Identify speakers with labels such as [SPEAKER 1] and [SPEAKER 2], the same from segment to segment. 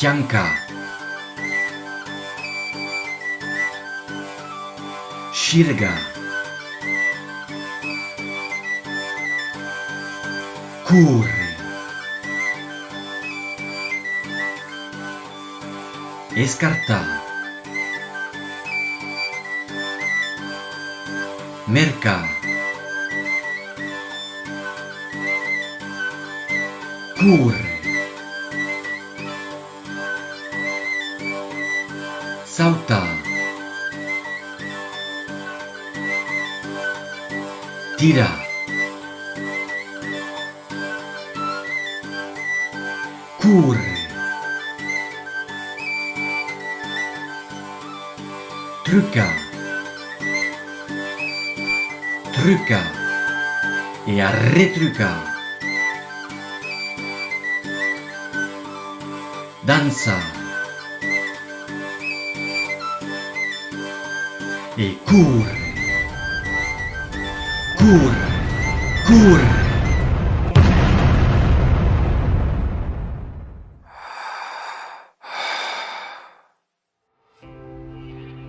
[SPEAKER 1] Janca. Shirga. Courre. Escartar. Mercar. Courre. Sautar. Tirar. Courre! Truca! Truca! E arretruca! Dança! E córrer, córrer, córrer!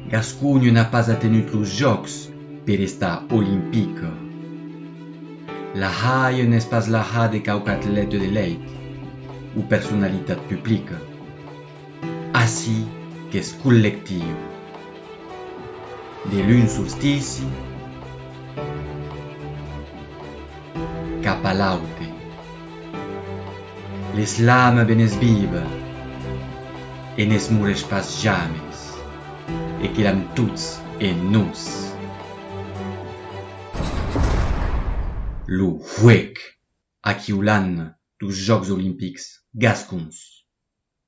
[SPEAKER 1] Gasconha n'a pas atenut los jòcs per estar olimpica. La haie n'es pas la ha de quauqu'atlète de lèit o personalitat publica. Ací qu'es collectiu. De l'un solstici cap a l'aute. L'eslame ben es vive e ne's morèsh pas james e que l'am tots en nos. Lo huec aquiu l'an dos Jòcs Olimpics gascons.